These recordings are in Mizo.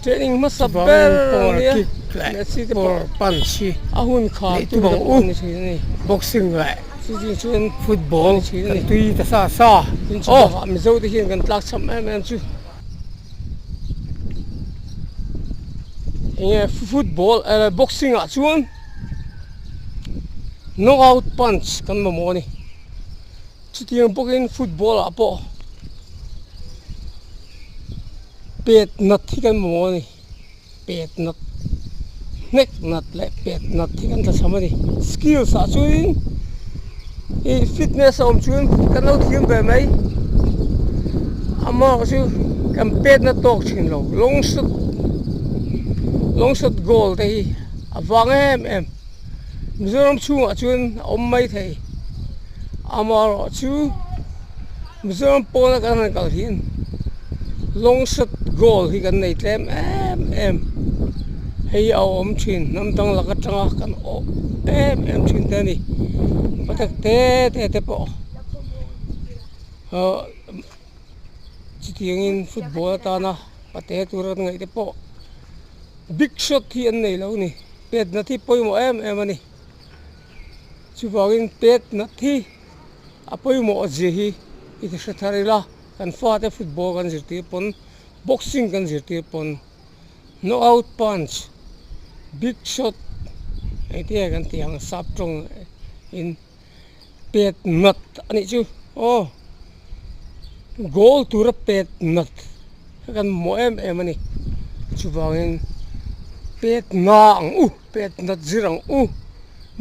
Training hmasa ber ania, hmeichhia te pawh a hun khar tu te pawh a ni thin a ni, boxing leh football kan tui ta sa sa, tin chutah Mizo te hian kan tlak chham em em chu. Enge football eh boxing ah chuan knock out punch kan mamawh a ni, chutiang bawkin football ah pawh. Pet nat hi kan hmu a ni, pet nat, hnek nat leh pet nat hi kan hre thlam a ni. Skills ah chuanin i fitness a awm chuan kan lo thiam ve mai, amaherawhkha chu kan pet nat tawk thin lo. Long shot, long shot goal te hi a vang em em, Mizoram chhungah chuan a awm maithei, amaherawhchu. Mizoram pawna kan rawn kal hian long shot goal hi kan nei tlem em em hei a awm thin hnam dang lak atanga kan awh em em thin te a ni patak te te te pawh ah chutiangin football atana pate tur an ngaih te pawh big shot hi an nei lo a ni pet nat hi pawimawh em em a ni chuvangin pet nat hi-- A pawimawh a zia hi i ti hre thar ila, kan fate football kan zirtir pawn, boxing kan zirtir pawn, knock out punch, big shot engtiang kan tih ang sap tawng in pet nat a nih chu aw goal tura pet nat kha kan mawh em em a ni chuvangin pet na ang u pet nat zir ang u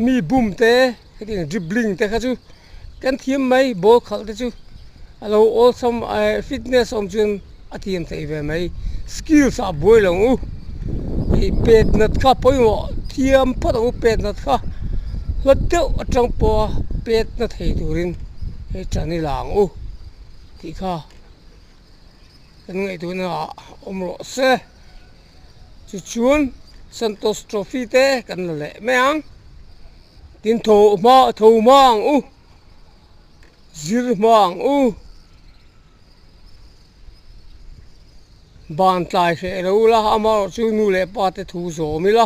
mi bumte. Hetiang in dribbling te kha chu kan thiam mai ball khalh te chu a lo awlsam eh fitness awm chuan a thiam theih ve mai skills ah buai lo u ih pet nat kha pawimawh thiam phawt ang u pet nat kha hlat deuh atang pawha pet na thei turin he tan hi la ang u tih kha kan ngaihtuah nana awm rawh se. chu chuan Santos Trophy te kan la leh mai ang, tin tho hma tho hma ang u, zir hma ang u, ban tlai hreh lo la, amarawhchu nu leh pate thu zawm ila.